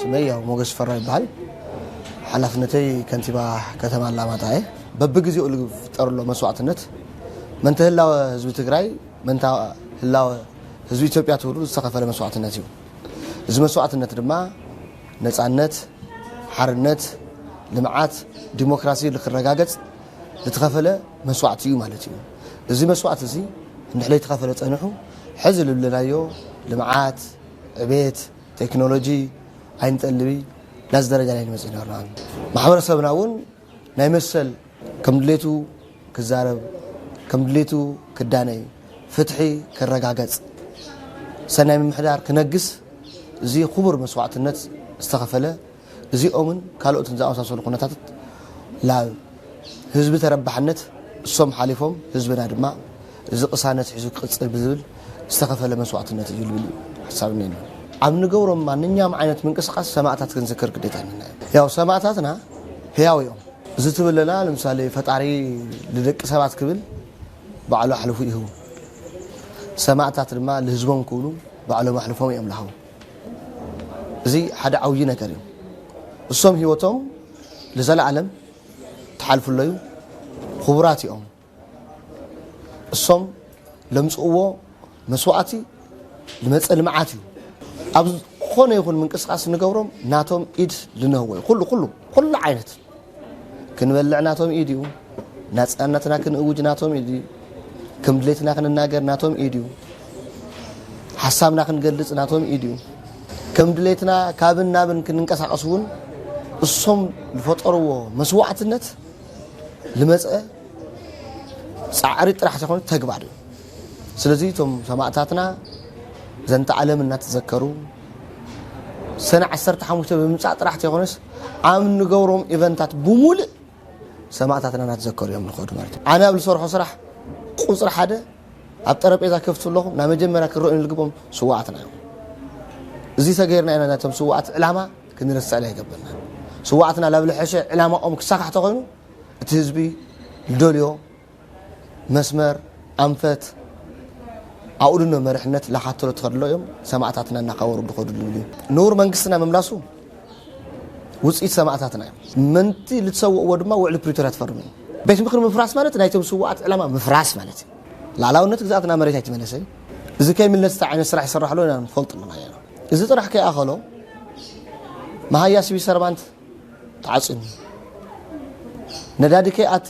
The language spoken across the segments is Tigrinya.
ስመይ ያው ሞገስ ሽፈራው ይበሃል ሓላፍነተይ ከንቲባ ከተማ ኣላማጣ እየ በብግዜኡ ዝፍጠርሎ መስዋዕትነት መንተ ህላወ ህዝቢ ትግራይ መንታ ህላወ ህዝቢ ኢትዮጵያ ትብሉ ዝተኸፈለ መስዋዕትነት እዩ እዚ መስዋዕትነት ድማ ነፃነት ሓርነት ልምዓት ዲሞክራሲ ንክረጋገፅ ዝተኸፈለ መስዋዕቲ እዩ ማለት እዩ። እዚ መስዋዕቲ እዚ እንድሕለይ ተኸፈለ ፀንሑ ሕዚ ልብለናዮ ልምዓት፣ ዕቤት፣ ቴክኖሎጂ ኣይንጠልብይ ናዚ ደረጃ ናይ ንመፅእ ነርና። ማሕበረሰብና እውን ናይ መሰል ከም ድሌቱ ክዛረብ፣ ከም ድሌቱ ክዳነይ፣ ፍትሒ ክረጋገፅ፣ ሰናይ ምምሕዳር ክነግስ እዚ ክቡር መስዋዕትነት ዝተኸፈለ እዚኦምን ካልኦትን ዝኣመሳሰሉ ኩነታትት ላብ ህዝቢ ተረባሕነት እሶም ሓሊፎም ህዝብና ድማ እዚ ቅሳነት ሒዙ ክቅፅል ብዝብል ዝተኸፈለ መስዋእትነት እዩ ልብል እዩ ሓሳብ እኔና። ኣብ ንገብሮም ማንኛውም ዓይነት ምንቅስቃስ ሰማእታት ክንዝክር ግዴታ እኔና እዩ። ያው ሰማእታትና ህያው እዮም። እዚ ትብለና ለምሳሌ ፈጣሪ ልደቂ ሰባት ክብል ባዕሉ ኣሕልፉ ይህቡ። ሰማእታት ድማ ልህዝቦም ክብሉ ባዕሎም ኣሕልፎም እዮም ልሃቡ። እዚ ሓደ ዓውዪ ነገር እዩ። እሶም ህይወቶም ልዘለዓለም ተሓልፍሎ እዩ። ኹቡራት እዮም። እሶም ለምፅእዎ መስዋእቲ ልመፀ ልምዓት እዩ። ኣብ ዝኾነ ይኹን ምንቅስቃስ እንገብሮም ናቶም ኢድ ልንህቦ እዩ። ኹሉ ኹሉ ኹሉ ዓይነት ክንበልዕ ናቶም ኢድ እዩ። ናጽናነትና ክንእውጅ ናቶም ኢድ እዩ። ከም ድሌትና ክንናገር ናቶም ኢድ እዩ። ሓሳብና ክንገልጽ ናቶም ኢድ እዩ። ከም ድሌትና ካብን ናብን ክንንቀሳቐስ እውን እሶም ዝፈጠርዎ መስዋዕትነት ልመፀ ፃዕሪ ጥራሕ ዘይኮነ ተግባር እዩ። ስለዚ እቶም ሰማእታትና ዘንተ ዓለም እናተዘከሩ ሰነ ዓሰርተ ሓሙሽተ ብምምፃእ ጥራሕ ተይኮነስ ኣብ ንገብሮም ኢቨንታት ብሙሉእ ሰማእታትና እናተዘከሩ እዮም ንኸዱ ማለት እዩ ኣነ ኣብ ዝሰርሖ ስራሕ ቁፅሪ ሓደ ኣብ ጠረጴዛ ከፍቱ ኣለኹ ናብ መጀመርያ ክረአዩ ዝግቦም ስዋኣትና እዮም እዚ ተገይርና ኢና ናቶም ስዋኣት ዕላማ ክንርስዕላ ይገብርና ስዋኣትና ላብ ልሐሸ ዕላማኦም ክሳካሕ ተኮይኑ እቲ ህዝቢ ደልዮ መስመር፣ ኣንፈት፣ ኣኡድኖ መርሕነት ላኻተሎ ተኸድሎ እዮም ሰማእታትና እናኻበሩ ድኸዱ ድልዩ። ንቡር መንግስትና ምምላሱ ውጽኢት ሰማእታትና እዩ። ምንቲ ልትሰውእዎ ድማ ውዕሊ ፕሪቶርያ ትፈርሙ እዩ። ቤት ምክሪ ምፍራስ ማለት ናይቶም ስውኣት ዕላማ ምፍራስ ማለት እዩ። ላእላውነት ግዝኣት ናብ መሬት ኣይትመለሰይ። እዚ ከይምለስ እንታይ ዓይነት ስራሕ ይሰራሕ ኣሎ ኢና ንፈልጥ ኣለና ኢና። እዚ ጥራሕ ከይኣኸሎ መሃያ ሲቪል ሰርቫንት ተዓጽዩኒ ነዳዲ ከይኣቲ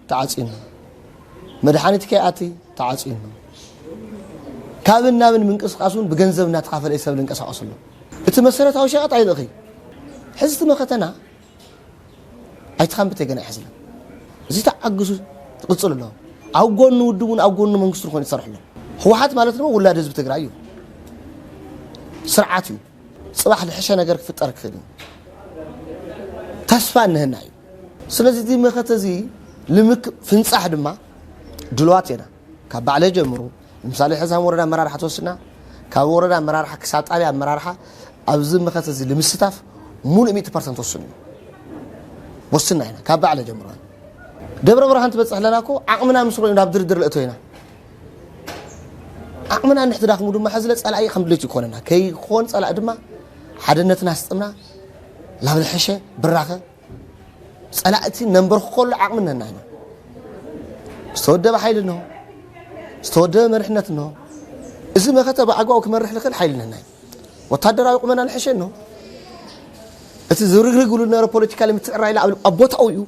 ተዓጽዩና መድሓኒት ከይኣቲ ተዓጽዩና ካብን ናብን ምንቅስቃስ እውን ብገንዘብ እናተኻፈለ እዩ ሰብ ዝንቀሳቀሰሉ እቲ መሰረታዊ ሸቀጥ ኣይልእኽ እዩ ሕዚ እቲ መኸተና ኣይትኻንብተይ ገና ይሕዝለን እዚ ተዓግሱ ትቕፅል ኣለዎ ኣብ ጎኑ ውድብ እውን ኣብ ጎኑ መንግስቲ ዝኾነ ይሰርሑ ኣለዎ ህወሓት ማለት ድማ ውላድ ህዝቢ ትግራይ እዩ ስርዓት እዩ ፅባሕ ዝሕሸ ነገር ክፍጠር ክኽእል እዩ ተስፋ እነሀና እዩ ስለዚ እዚ መኸተ እዚ ልምክ ፍንፃሕ ድማ ድልዋት ኢና ካብ ባዕለ ጀምሩ ንምሳሌ ሕዚ ከም ወረዳ ኣመራርሓ ተወስና ካብ ወረዳ ኣመራርሓ ክሳብ ጣብያ ኣመራርሓ ኣብዚ መኸተ እዚ ንምስታፍ ሙሉእ ሚእቲ ፐርሰንት ወስኑ እዩ ወስና ኢና ካብ ባዕለ ጀምሩ ደብረ ብርሃን ትበፅሕ ኣለና እኮ ዓቕምና ምስ ርኢና ናብ ድርድር ልእቶ ኢና ዓቕምና እንድሕቲ ዳኽሙ ድማ ሕዝለ ፀላኢ ከም ድሌት ይኮነና ከይኮን ፀላኢ ድማ ሓድነትና ኣስጥምና ናብ ዝሐሸ ብራኸ ፀላእቲ ነንበርክከሉ ዓቕሚ ነና ኢና ዝተወደበ ሓይሊ እንሆ ዝተወደበ መርሕነት እንሆ እዚ መኸተ ብኣግባቡ ክመርሕ ዝኽእል ሓይሊ ነና እዩ ወታደራዊ ቁመና ንሐሸ እንሆ እቲ ዝርግርግ ብሉ ዝነበረ ፖለቲካ ንምትዕራይ ኢላ ኣብ ቦታኡ እዩ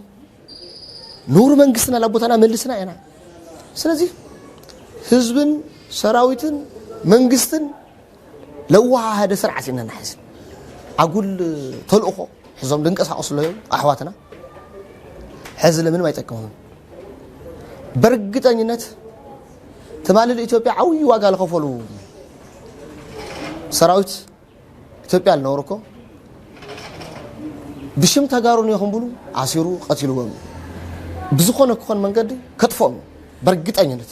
ንውሩ መንግስትና ናብ ቦታና መልስና ኢና ስለዚ ህዝብን ሰራዊትን መንግስትን ለዋሃሃደ ስርዓት ኢና ንሕዝ ኣጉል ተልእኾ ሕዞም ድንቀሳቀሱ ኣለዉ ኣሕዋትና ሕዚ ለምንም ኣይጠቅሙን በርግጠኝነት ትማሊ ንኢትዮጵያ ዓብዪ ዋጋ ዝኸፈሉ ሰራዊት ኢትዮጵያ ዝነበሩ እኮ ብሽም ተጋሩ ኒኹም ብሉ ኣሲሩ ቀትልዎም ብዝኾነ ክኾን መንገዲ ከጥፍኦም በርግጠኝነት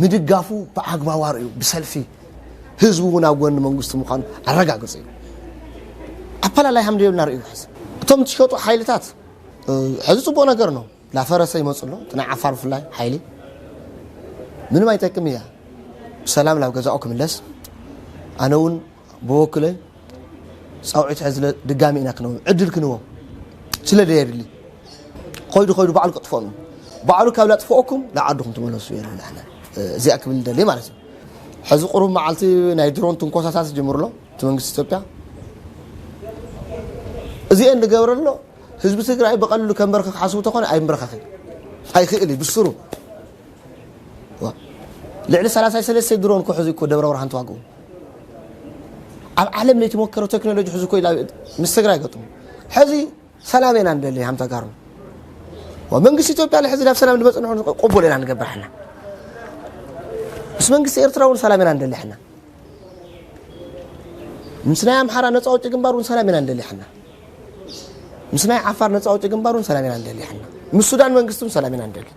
ምድጋፉ ብኣግባቡ ኣርእዩ ብሰልፊ ህዝቢ እውን ኣብ ጎኒ መንግስቱ ምዃኑ ኣረጋግፁ እዩ ኣፈላላይ ሃምደ የብልና ርእዩ ሕዚ እቶም ዝሸጡ ሓይልታት ሕዚ ፅቡቅ ነገር ነው ላፈረሰ ይመፁ ኣሎ እቲ ናይ ዓፋር ብፍላይ ሓይሊ ምንም ኣይጠቅም እያ ብሰላም ናብ ገዛኡ ክምለስ ኣነ እውን ብወክለይ ጻውዒት ሕዝለ ድጋሚ ኢና ክነብ ዕድል ክንቦ ስለ ደየድሊ ኮይዱ ኮይዱ ባዕሉ ክጥፈኑ ባዕሉ ካብ ላጥፍኦኩም ንዓድኹም ትመለሱ የለ ንሕና እዚኣ ክብል ደሊ ማለት እዩ ሕዚ ቁሩብ መዓልቲ ናይ ድሮን ትንኮሳታት ዝጀምሩ ኣሎ እቲ መንግስቲ ኢትዮጵያ እዚአን ንገብረ ኣሎ ህዝቢ ትግራይ ብቐልሉ ከንበርክክ ሓስቡ ተኾነ ኣይምበረኸኽን ኣይክእል እዩ ብስሩ ልዕሊ 33 ድሮን ክሕዙ እኮ ደብረ ብርሃን ተዋግኡ ኣብ ዓለም ለይተሞከረ ቴክኖሎጂ ሕዚ እኮ ምስ ትግራይ ገጥሙ ሕዚ ሰላም ኢና ንደሊ ሃም ተጋሩ መንግስቲ ኢትዮጵያ ሕዚ ናብ ሰላም ድመፅ ንሕን ቅቡል ኢና ንገብር ሕና ምስ መንግስቲ ኤርትራ እውን ሰላም ኢና ንደሊ ሕና ምስ ናይ ኣምሓራ ነፃ ውጭ ግንባር እውን ሰላም ኢና ንደሊ ሕና ምስ ናይ ዓፋር ነፃ ውጭ ግንባር እውን ሰላም ኢና ንደሊ ሕና ምስ ሱዳን መንግስቲ እውን ሰላም ኢና ንደሊ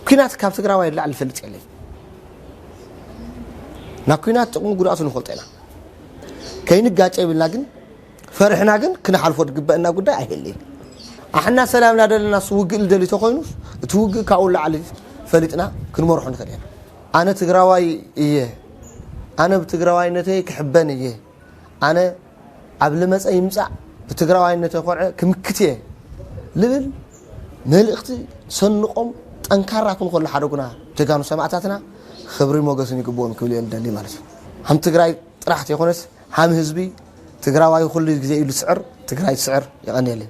ኩናት ካብ ትግራዋይ ንላዕሊ ዝፈልጥ የለይ ናብ ኩናት ጥቕሙ ጉድኣቱ ንፈልጦ ኢና ከይንጋጨ ይብልና ግን ፈርሕና ግን ክንሓልፎ ዝግበአና ጉዳይ ኣይህልይን ኣሕና ሰላም እናደለና እሱ ውግእ ልደልዩ ተኮይኑ እቲ ውግእ ካብኡ ላዕሊ ፈሊጥና ክንመርሖ ንኽእል ኢና ኣነ ትግራዋይ እየ ኣነ ብትግራዋይነተይ ክሕበን እየ ኣነ ኣብ ልመፀ ይምፃእ ብትግራዋይነተይ ኮርዐ ክምክት እየ ልብል መልእኽቲ ሰንቆም ጠንካራ ክንኮሉ ሓደጉና ጀጋኑ ሰማእታትና ክብሪ ሞገስን ይግብኦም ክብል እየ ልደሊ ማለት እዩ ሃም ትግራይ ጥራሕ ተይኮነስ ሃም ህዝቢ ትግራዋይ ኩሉ ግዜ እዩ ልስዕር ትግራይ ትስዕር የቐንየለይ